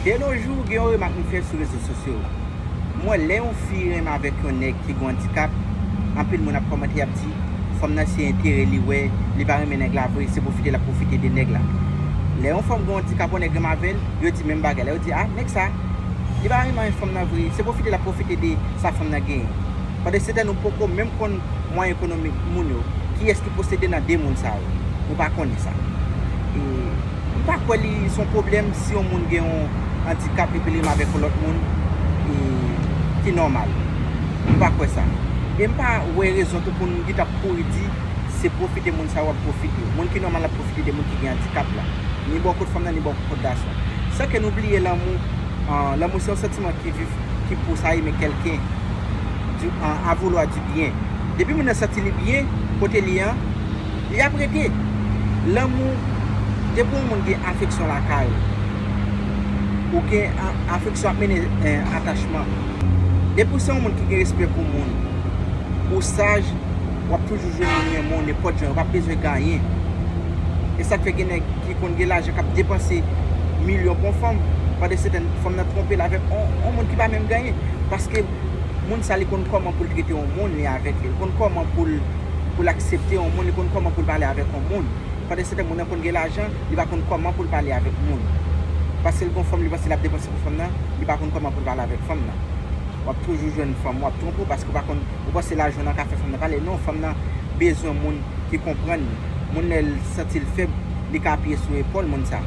De no jou, gen yon remak m fè sou rezo sosyo. M wè lè yon fi renmen avèk yon nèg ki gon andikap, anpil moun ap kòmante y ap di, fanm nan se enterè li wè, li pa renmen nèg la vre, se pwofite l ap pwofite de nèg la. Lè yon fanm gon andikap yon nèg renmen avè l, yo di menm bagay la, yo di a, nèg sa, li pa renmen fanm nan vre, se pwofite l ap pwofite de sa fanm nan genyen. Pandansyetan nou poko menm konn mwayen ekonomik moun yo, kiyès ki posede nan de moun sa yo, nou pa konnen sa. E. M pa kwè li se yon pwoblèm si yon moun gen yon andikap epi li avèk yon lòt moun ki nòmal. M pa kwè sa. E m pa wè rezon tou pou n git ap kouri di se pwofite moun sa yo ap pwofite. Moun ki nòmal ap pwofite de moun ki gen andikap la. Ni bò kot fanm nan ni bò kot gason. San ke nou bliye lanmou, lanmou se yon santiman ki viv, ki pou sa eme kèlken a vouloir du bien. Depi moun nan santi li byen kote li an. Li ap rete. Lanmou, depi yon moun gen afeksyon lakay ou, ou gen afeksyon ap mennen atachman. Depi ou se yon moun ki gen respè pou moun, ou saj, w ap toujou jwenn moun renmen w nenpòt jan, yo pa p bezwen ganyen. E sa k fè gen nèg ki konn gen lajan k ap depanse milyon pou yon fanm, pandesetan fanm nan twonpe l avèk yon moun ki pa menm ganyen. Paske. moun sa li konn kòman poul trete yon moun li avèk li, li konn kòman poul poul aksepte yon moun, li konn kòman poul pale avèk yon moun, pandan se tan moun nan konn gen lajan li pa konn kòman poul pale avèk moun, paskel gon fanm li panse lap depanse pou fanm nan, li pa konn kòman poul pale avèk fanm nan, wap toujou jwenn fanm wap twonpe w paske w pa konn ou panse lajan w nan ka fè fanm nan pale, non fanm nan bezwen moun ki konprann li, moun lèl santil fèb li ka apiye sou epòl moun sa,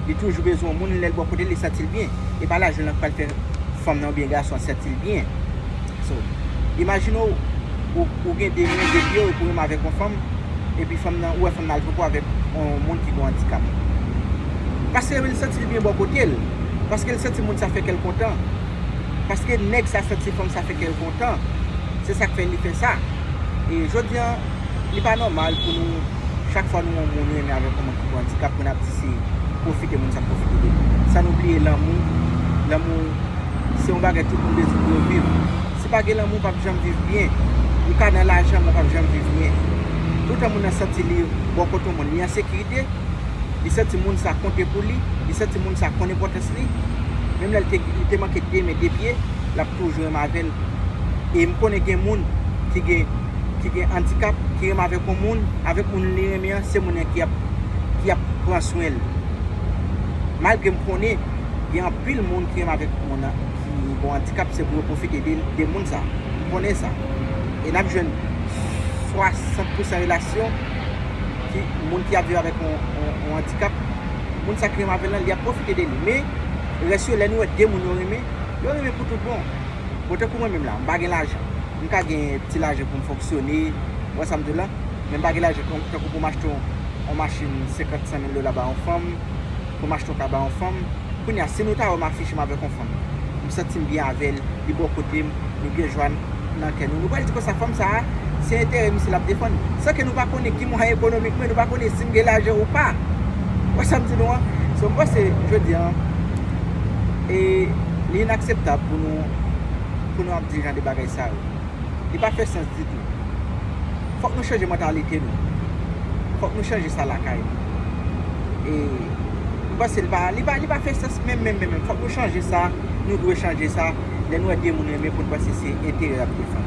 li toujou bezwen yon moun lèl bò kote li santil byen. e pa lajan lan k pral fè fanm lan oubyen gason an santi l byen. So, imajine w, ou gen 2 men, 2 pye w epi w renmen avèk yon fanm, epi fanm lan, ou wè fanm lan al popo avèk yon moun ki gen yon andikap. Pase l santi l byen bò kote l. Paske l santi moun sa fè kè l kontan. Paske nèg sa santi fanm sa fè kè l kontan. Se sa k fè li fè sa. E jodi an, li pa nòmal pou nou, chak fwa nou wè yon moun nou renmen avèk yon moun, Bon andikap moun ap di se pwofite moun sa k pwofite de li. San nou bliye lanmou, lanmou se yon bagay tout moun bezwen pou yo viv. Si pa gen lanmou ou pap janm viv byen. Ou ka nan lajan men ou pap janm viv byen. Toutan moun nan santi li bò kote yon moun, li an sekirite, li santi moun sa konte pou li, li santi moun sa konn enpòtans li, menm lè li te manke de men de pye, l ap toujou renmen avè l. E m konnen gen moun ki gen. ki gen andikap, ki renmen avèk yon moun, avèk moun li renmen an, se moun an ki ap, ki ap pran swen l. Malgre m konnen gen anpil moun ki renmen avèk moun an ki gon andikap, se pou yo pwofite de, de moun sa. M konnen sa. E n ap jwenn 60 pousan relasyon ki, moun ki ap viv avèk yon, yon andikap, moun sa ki renmen avè l lan, li ap pwofite de li. Men, rès yo, lè nou wè de moun yo renmen, yo renmen pou tout bon. Bon, tankou mwen menm la, m pa gen lajan. M ka gen ti lajan pou m fonksyone, ou wè sa m di w la? Men m pa gen lajan tankou pou m achte yon machin senkant, san mil dola ba yon fanm, pou m achte yon ka ba yon fanm. Kounye a, si nou ta wè m afiche m avèk yon fanm, m santi m byen avè l, li bò kote m, nou gen jwa nan kè nou, nou pral di konsa, fanm sa a, se enterè misye l ap defann. San ke nou pa konnen ki mwayen ekonomik mwen, nou pa konnen si m gen lajan ou pa. Ou wè sa m di nou an? So m panse, jodi a, li inakseptab pou nou ap. di jan de bagay sa yo. Li pa fè sans ditou. Fòk nou chanje mantalite nou. Fòk nou chanje sa lakay nou. E m panse li pa, li pa, li pa fè sans menm menm menm menm. Fòk nou chanje sa, nou dwe chanje sa. Lè nou wè gen moun renmen pou n panse se enterè y ap defann.